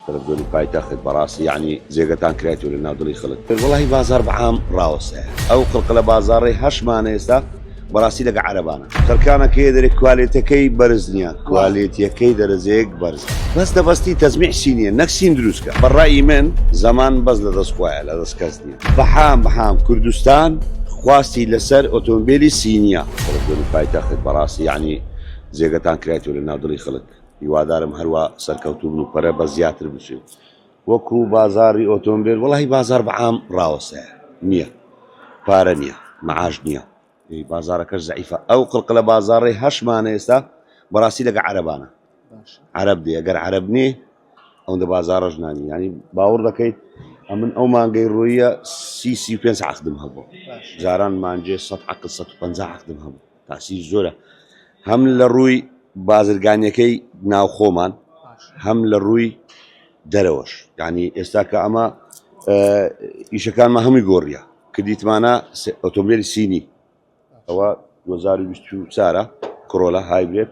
تەلەفزۆنی پایتەخت بەڕاستی یەعنی جێگەتان کرایتوە لە ناو دڵی خەڵک تر وەڵاهی بازاڕ بە عام ڕاوەستایە ئەو قڵقلە بازاڕەی هەشمانە ئێستا بەڕاستی لەگە عەرەبانە خەرکانەکەیە دەرێ کوالێتەکەی بەرز نییە کوالێتیەکەی دەرەجەیەک بەرزە بەس دەبەستی تەزمیع سینیە نەک سین دروست کە بە ڕای من زەمان بەس لە دەست خوایە لە دەست کەس نییە بەحام بەحام کوردستان خواستی لەسەر ئۆتۆمبیلی سینیە تەلەفزۆنی پایتەخت بەڕاستی یەعنی جێگەتان کرایتوە لە ناو دڵی خەڵک هیوادارم هەروا سەرکەوتوو بن و پەرە بە زیاتر بچێ وەکو بازاری ئۆتۆمبێل وەڵاهی بازار بە عام ڕاوەسێ نییە پارە نییە مەعاش نییە بازارەکەش زعیفە ئەو قڵق لە بازارڕێ هەشمانە ئێستا بەڕاستی لەگە عەربانە عەرب دێ گەر عەرب نێ ئەوەندە بازارڕژ نانی ینی باوەڕ دەکەیت ئەمن ئەو مانگەی ڕوویە سی سی پێ عقدم هەبوو جاران مانجێ سە عقل 150 عقدم هەبوو تاسیری زۆرە هەم لە ڕووی بازرگانیەکەی ناوخۆمان هەم لە ڕووی دەرەوەش یعنی ئێستا کە ئەمە ئیشەکانمە هەمووی گۆڕیە کە دیتمانە ئۆتۆمبیلی سینی ئەوە 2024 کڕۆلە هایبرێت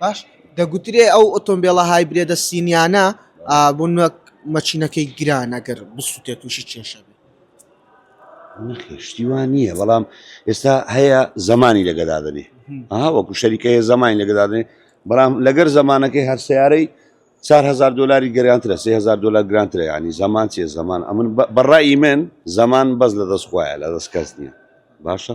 باش دەگوترێ ئەو ئۆتۆمبێڵە هایبرێدە سینیانە بۆ نوێک مەچینەکەی گران ئەگەر بسووتێت تووشی کێشە بێت نەخشتیوان نییە بەڵام ئێستا هەیە زمانی لەگەدادنێ ئەها وەکو شەریکە هەیە زمانی لەگەدادنێ بەڵام لەگەر زمانەکەی هەر سیارەی 4هزار دلاری گەرانترە 3هزار دلار گرانترە ینی زمان چیە زمان ئەمن بەڕای من زمان بەس لە دەست خۆیان لە دەست کەس نییە باشە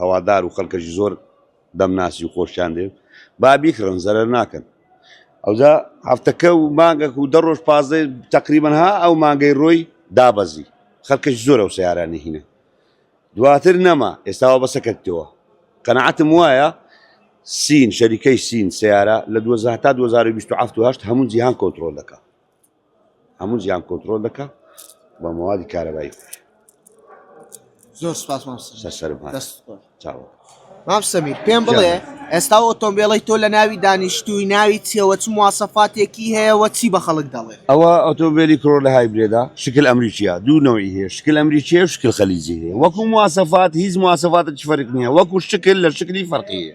هەوادار و خەلکەشی زۆر دەمناسی و خۆشیان دەوێت با بیکڕن زەرەر ناکەن ئەوجا هەفتەکە و مانگەک و دە ڕۆژ پازدە تقریبن ها ئەو مانگەی ڕۆی دابەزی خەلکەش زۆر ئەو سیارانی هینە دواتر نەما ئێستاوە بەسە کردەوە قەنەعەتم وایە سین شەریکەی سین سیارە لە 2000 تا 2027 هەموو جیهان کۆنتترۆل دەکە هەموو جیان کۆنترۆل دەکا بە مەوادی کارەبایی خۆی زۆر سپاس مام سەمیر پێم بڵێ ئێستا ئۆتۆمبیڵی تۆ لە ناوی دانیشتووی ناوی چێوە چ موواسەفاتێکی هەیەەوە چی بە خەڵک دەڵێ ئەوە ئۆتۆمبیلی کۆر لە هایبرێدا شکل ئەمریکیە دوو نەوەی هەیە شکل ئەمریکیە شکل خەلیجی هەیە وەکو موواسەفات هیچ موواسەفاتە چ فەرق نییە وەکو شکل لە شکلی فەرقیە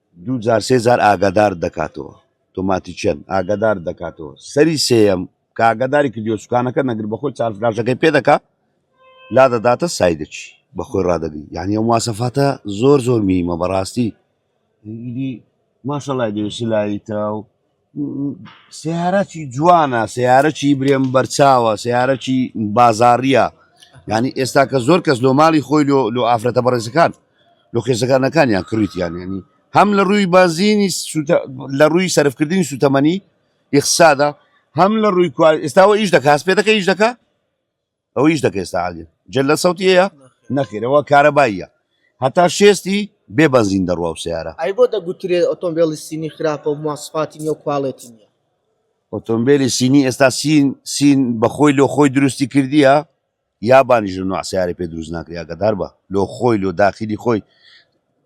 دوو جار سێ جار ئاگادارت دەکاتەوە تۆماتی چەن ئاگادارت دەکاتەوە سەری سێیەم کە ئاگاداری کردیەوە سوکانەکە نەگر بەخۆی چار فلاشەکەی پێ دەکا لا دەداتە سای دەچی بەخۆی ڕادەگری یعنی ئەو مواسەفاتە زۆر زۆر میمە بەڕاستی ئیدی ماشەڵای دێ سلایتە و سیارەکی جوانە سیارەکی برێن بەرچاوە سیارەکی بازاڕە ینی ئێستا کە زۆر کەس لۆ ماڵی خۆی لۆ لۆ ئافرەتە بەڕێزەکان لۆ خێزەکانەکانیان کڕیتیان ینی هەم لە ڕووی بازینی لە ڕووی سەرفکردنی سوتەمەنی یخسادا هەم لە ڕووی ئێستاوە ئیش دەکات پێ دەکە ئیش دەکە ئەو هیچ دەکە ئێستا عادل جل لە سەوتیەیە نەخێرەوە کارەباییە هەتا شێستی بێ بەنزین دەڕوا و سیارە ئەی بۆ دەگوترێت ئۆتۆمبیلی سینی خراپە و مواسفاتی نیە و کوالێتی نیە ئۆتۆمبیلی سینی ئێستا سین سین بەخۆی لۆ خۆی دروستی کردیە یا بانیژ لە نوعسیارە پێ دروست ناکریا کە دار بە لۆ خۆی لۆ داخلی خۆی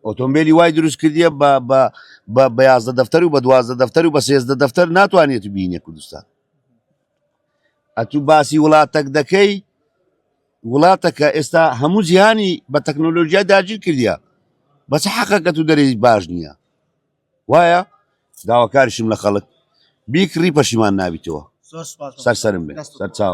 ئۆتۆمبیلی وای دروست کردیە بە بە بە بەیازدە دەفتەر و بە دوازدە دەفتەر و بە سێزدە دەفتەر ناتوانێت بینە کوردستان ئەتوو باسی وڵاتەک دەکەی وڵاتەکە ئێستا هەموو جیهانی بە تەکنۆلۆژیا داگیر کردە بەس حەقەکە تو دەری باش نییە وایە داواکارشم لە خەڵک بیکڕی پەشیمان نابیتەوە سەرسەرم بێت سەرچاو